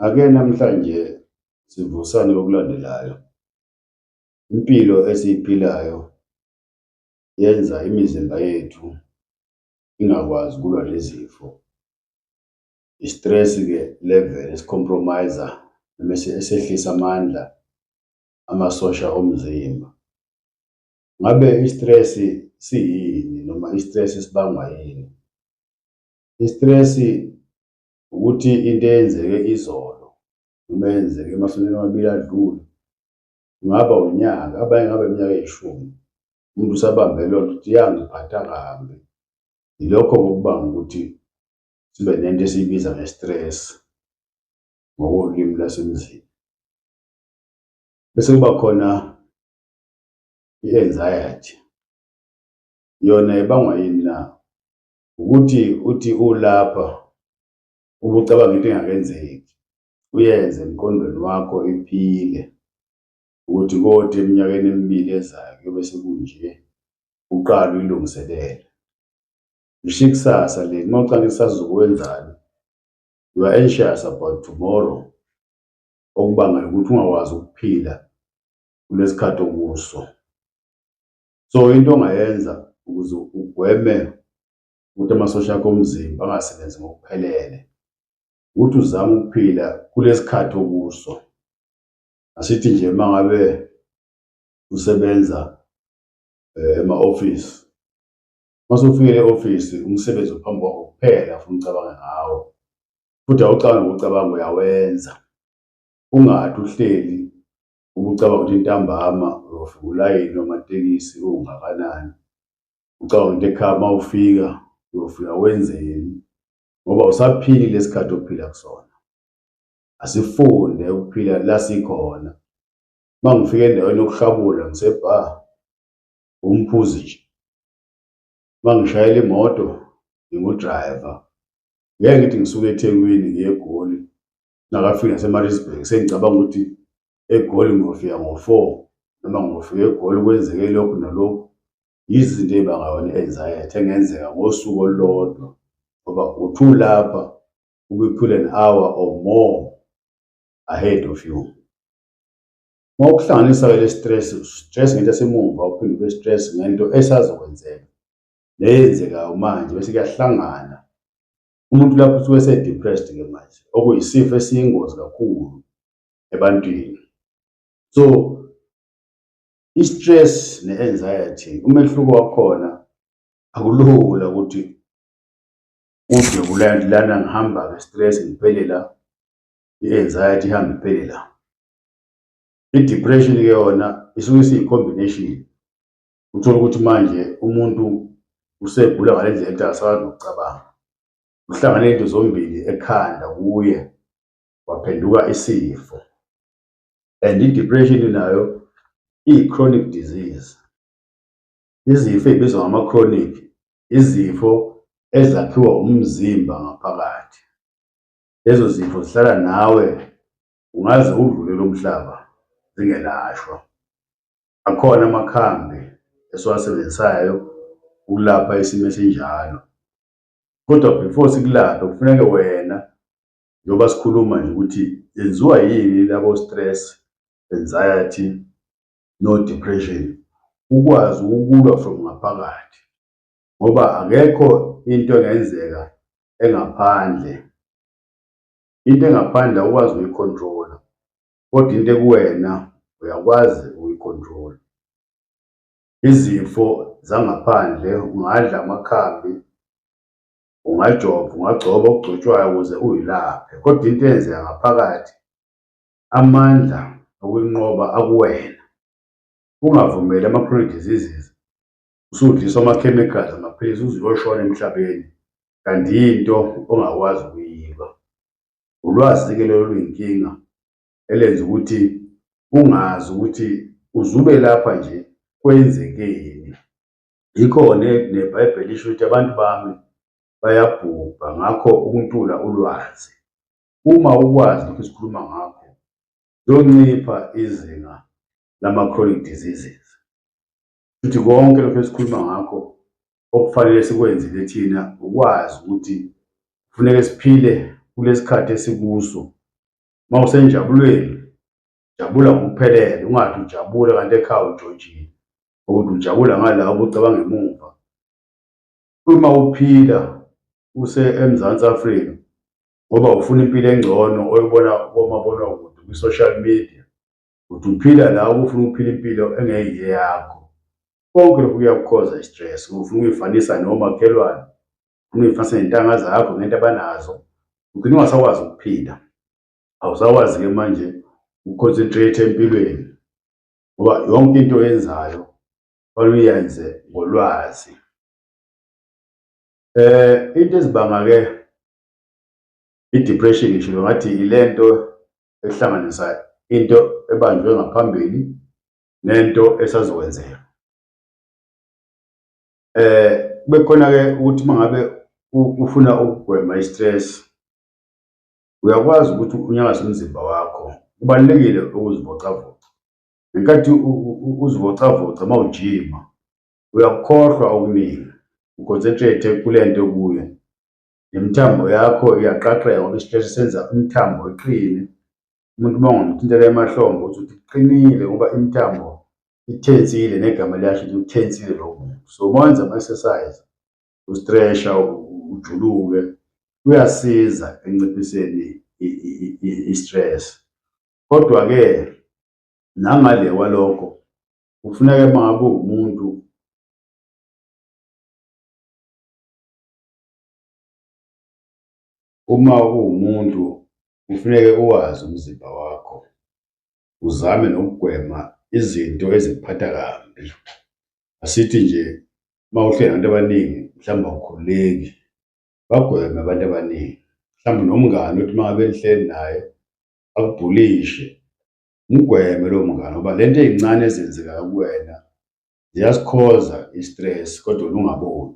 Ake namhlanje sivusane okulandelayo. Impilo esiyiphilayo yenza imizimba yethu ingakwazi ukulwa nezifo. I-stress-ke level esi-compromise-a noma esehlisa amandla amasosha omzimba. Ngabe i-stress siyini noma i-stress sibangwa yini? I-stress ukuthi into eyenzeke izolo noma eyenzeke emasontweni amabili adlule, kungaba unyaka, abanye kungaba iminyaka eyishumi, umuntu usabambe leyo nto ukuthi yangiphatha kambi. Yilokho okubanga ukuthi sibe nento esiyibiza nge-stress ngokolimi lwasemzini. Bese kuba khona i-anxiety yona ibangwa yini na ukuthi uthi ulapha ubucabanga into engakenzeki uyenze emqondweni wakho iphile ukuthi kodwa eminyakeni emibili ezayo kuyobe sekunje uqala uyilungiselele ngisho ikusasa le uma ucanga ikusasa ukwenzani you are anxious about tomorrow okubangela ukuthi ungakwazi ukuphila kunesikhathi okuso so into ongayenza ukuze ugweme ukuthi amasosha akho omzimba angasebenzi ngokuphelele ukuthi uzame ukuphila kulesikhathi okuso asithi nje mangabe usebenza eh, ema office mase ufike e office umsebenzi ophambi kwakho kuphela ufuna ucabanga ngawo futhi awucabanga ukucabanga uyawenza ungathi uhleli Uma ucabanga ukuthi intambama uyofika ulayini wamatekisi ungakanani, ucabanga ukuthi ekhaya uma ufika uyofika wenzeni, ngoba usaphili lesikhathi ophila kusona. Asifunde ukuphila la sikhona. Uma ngifika endaweni yokuhlabula ngisebha, umphuzi nje. Uma ngishayela imoto ngingudrayiva. Ngeke ngithi ngisuke eThekwini ngiye eGoli nakafika nasemaritzburg sengicabanga ukuthi egoli ngofika ngo-four noma ngofika egoli kwenzeke lokhu nalokhu yizinto ey'bangayona i-anxiety engenzeka ngosuku olulodwa ngoba uthi ulapha ubiphule an hour or more ahead of you uma ukuhlanganisa-ke le stress stress ngento esemuva uphinde ube stress ngento esazokwenzeka neyenzekayo manje bese kuyahlangana umuntu lapho usuke ese-depressed ke manje okuyisifo esiyingozi kakhulu ebantwini so i-stress ne-anxiety umehluko wakhona akulula ukuthi ude kulanti lana ngihamba-ke stress ngiphele la i-anxiety ihambe iphele la i-depression-ke yona isuke isiyi-combination uthole ukuthi manje umuntu usegula ngale ndlela ekuthe akasakwazi nokucabanga uhlangane into zombili ekhanda kuye waphenduka isifo and i-depression nayo iyi-chronic disease izifo ey'bizwa ngama-chronic izifo ezakhiwa umzimba ngaphakathi lezo zifo zihlala nawe ungaze udlulele umhlaba zingelashwa Akhona amakhambi esiwasebenzisayo ukulapha isimo esinjalo. Kodwa before sikulaphe kufuneke wena njengoba sikhuluma nje ukuthi yenziwa yini labo stress, anxiety no depression ukwazi ukulwa from ngaphakathi ngoba akekho into engenzeka engaphandle. Into engaphandle awukwazi uyikhontrola. kodwa into ekuwena uyakwazi ukuyicontrol izifo zangaphandle ungadla amakhambi ungajova ungagcoba okugcotshwayo ukuze uyilaphe kodwa into eyenzeka ngaphakathi amandla okuyinqoba akuwena ungavumeli ama-chronic diseases usudliswa ama-chemicals amaphilisi uze uyoshona emhlabeni kanti yinto ongakwazi ukuyilwa Ulwazi-ke lelo luyinkinga elenza ukuthi ungazi ukuthi uzube lapha nje kwenzekeni. Yikhona neBhayibheli isho ukuthi abantu bami bayabhubha, ngakho ukuntula ulwazi. Uma ukwazi lokhu esikhuluma ngakho, kuyoncipha izinga lama-chronic diseases. Futhi konke lokho esikhuluma ngakho okufanele sikwenze lethina ukwazi ukuthi kufuneka siphile kulesikhathi esikuso. Mawusenjabulweni jabula ngokuphelele ungathi ujabula kanti ekhaya ujojile ukuthi ujabula ngala ubucabanga emuva. Uma uphila use eMzansi Afrika ngoba ufuna impilo engcono oyibona komabonakude kwi-social media ukuthi uphila la ubufuna ukuphila impilo engeyiye yakho konke lokhu kuyakukhoza i-stress ufuna ukuyifanisa nomakhelwane ufuna uyifanisa nentanga zakho ngento abanazo ugcine ungasakwazi ukuphila awusakwazi-ke manje uconcentrate empilweni ngoba yonke into oyenzayo fanele uyenze ngolwazi eh into ezibanga-ke i-depression ngisho ngathi ilento ehlanganisayo into ebanjwe ngaphambili nento esazokwenzeka eh bekhona ke ukuthi mangabe ufuna ukugwema istress uyakwazi ukuthi unyakaze umzimba wakho kubalekile ukuzivocavoca ngenkathi uzivocavoca mawujima uyakukhohlwa okuningi uconcentrate kulento kuyo nemithambo yakho iyaqaqeka ngoba isiteshi senza umthambo iqine umuntu uma ungamthintela emahlombe uthi uthi iqinile ngoba imithambo ithensile negama liyasho ukuthi uthensile lowo muntu so uma wenza ama-exercise ustresha ujuluke kuyasiza enciphiseni i-stress kodwa-ke nangale kwalokho kufuneka uma ngabe uwumuntu Uma uwumuntu kufuneke uwazi umzimba wakho, uzame nokugwema izinto ezikuphatha kambi. Asithi nje uma uhleli nabantu abaningi mhlawumbe awukhululeki, bagweme abantu abaningi. Mhlawumbe nomngani uthi uma ngabe nihleli naye akubhulishe, mgweme lowo mngani ngoba le nto ey'ncane ezenzekayo kuwena ziyasikhoza i-stress kodwa wena ungaboni.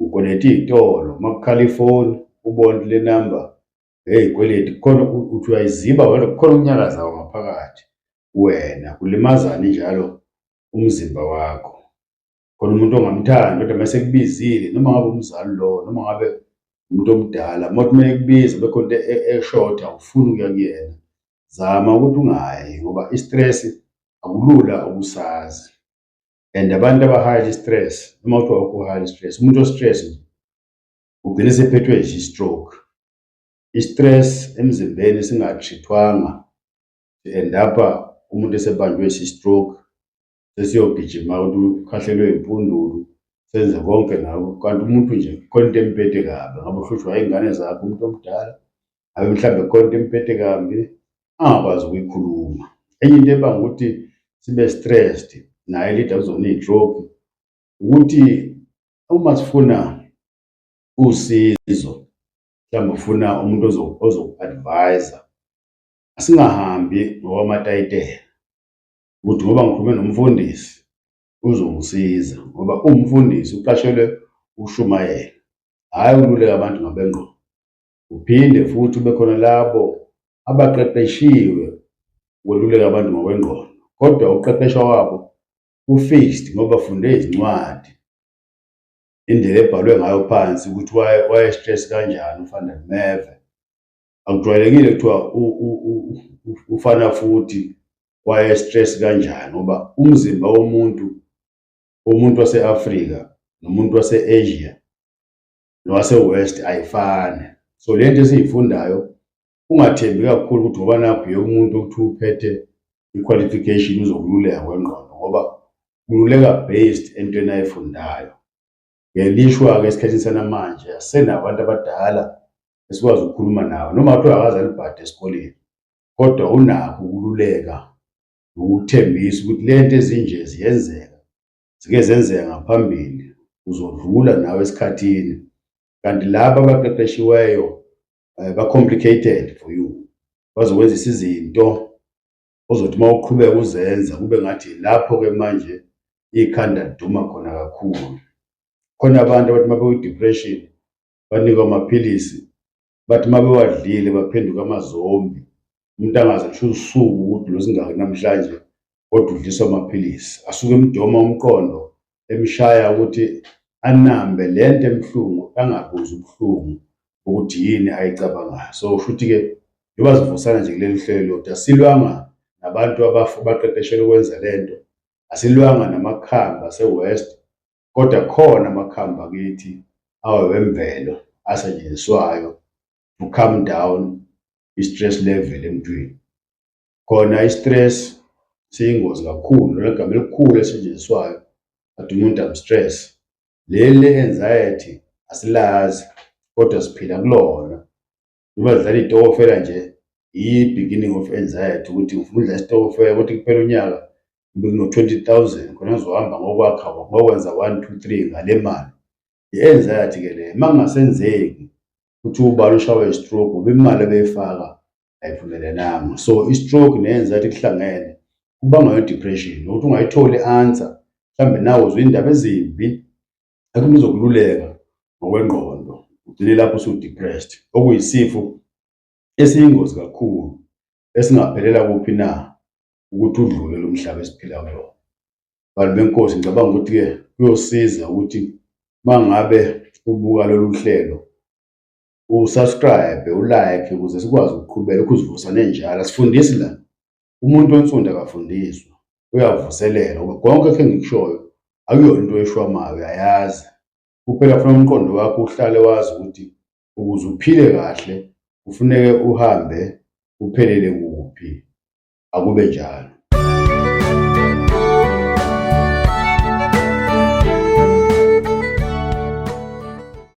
ukweleta iy'tolo uma kukhala ifoni ubone le namba heyi kweleti kukhona ukuthi uyayiziba wena kukhona ukunyakazayo ngaphakathi wena kulimazani njalo umzimba wakho khona umuntu ongamthandi kodwa mase kubizile noma ngabe umzali lo noma ngabe umuntu omdala mothi uma ekubiza bekho into e-, eshoda ufuna ukuya kuyena zama ukuthi ungayi ngoba i-stress akulula ukusazi and abantu aba-highly stress noma kuthiwa wakho highly stress umuntu o-stress nje ugcine sephethwe nje i-stroke i-stress emzimbeni singatrithwanga and apha umuntu esebanjwe si-stroke sesiyogijima ukuthi ukhahlelwe impundulu senze konke ngako kanti umuntu nje khona into emphethe kabi ngabe uhlushwa iy'ngane zakhe umuntu omdala abe mhlawumbe khona into emphethe kambi angakwazi ukuyikhuluma enye into ebanga ukuthi sibe stressed naye leader uzona ijob ukuthi uma sifuna usizo mhlawumbe ufuna umuntu ozoku-advise asingahambi ngokwamatayitela ukuthi ngoba ngikhulume nomfundisi uzongisiza ngoba uwumfundisi uqashelwe ushumayela hhayi ukululeka abantu ngabengqondo Kuphinde futhi kube khona labo abaqeqeshiwe ukweluleka abantu ngokwengqondo, kodwa ukuqeqeshwa kwabo ku-fixed ngoba funde izincwadi indlela ebhalwe ngayo phansi ukuthi wayestress kanjani ufana neve akujwayelekile kuthiwa ufana futhi wayestress kanjani ngoba umzimba womuntu womuntu wase-afrika nomuntu wase-asia nowase-west ayifani so le nto esiyifundayo ungathembi kakhulu ukuthi ngoba nakho yonke umuntu ukuthi uphethe i-qualification uzokululeka kwengqondo ngoba kululeka based entweni ayifundayo ngelishwa-ke esikhathini sanamanje asenabantu abadala esikwazi ukukhuluma nawo noma kuthiwa akaze alibhade esikoleni kodwa unakho ukululeka nokuthembisa ukuthi le nto ezinje ziyenzeka zike zenzeka ngaphambili uzodlula nawe esikhathini kanti laba abaqeqeshiweyo eh, ba complicated for you bazokwenzisa izinto ozothi uma uqhubeka uzenza kube ngathi lapho ke manje ikhanda liduma khona kakhulu khona abantu abathi uma bewu-depression banikwa amaphilisi bathi uma bewadlile baphenduka amazombi umuntu angazi kusho usuku ukuthi losingaki namhlanje kodwa udliswa amaphilisi asuke emdoma umqondo emshaya ukuthi anambe le nto emhlungu angabuzi ubuhlungu ukuthi yini ayicabangayo so usho ukuthi-ke njengoba zivusana nje kuleli hlelo lodwa silwanga nabantu abaqeqeshelwe ukwenza le nto asilwanga namakhamba ase-west kodwa khona amakhambi akithi awemvelo asetshenziswayo to calm down i-stress level emntwini khona i-stress siyingozi kakhulu lona gama elikhulu esetshenziswayo athi umuntu am-stress leli le-anxiety asilazi kodwa siphila kulona noma zidlala iy'tokofela nje iyi-beginning of anxiety ukuthi ngifuna udlala isitokofela ukuthi kuphela unyaka kumbe kuno-twenty thousand khona ngizohamba ngokwakha ngokwenza one two three ngale mali i-anxiety ke leyo uma kungasenzeki ukuthi ubala ushawe i-stroke ngoba imali ebeyifaka ayiphumelelanga so i-stroke ne-anxiety kuhlangene kubangwa i-depression nokuthi ungayitholi i-answer mhlawumbe nawe uzwa iy'ndaba ezimbi athi umuntu uzokululeka ngokwengqondo ugcine lapho usudepressed okuyisifo esiyingozi kakhulu esingaphelela kuphi na ukuthi udlule lo mhlaba esiphila kuwona bantu benkosi ngicabanga ukuthi-ke kuyosiza ukuthi uma ngabe ubuka lolu hlelo usubscribe ulike ukuze sikwazi ukuqhubeka ukhuzivusa nenjalo asifundisi la umuntu onsundu akafundiswa uyavuselela ngoba konke khe ngikushoyo akuyona into eshwamayo uyayazi kuphela funa umqondo wakho uhlale wazi ukuthi ukuze uphile kahle kufuneke uhambe uphelele kuphi akube njalo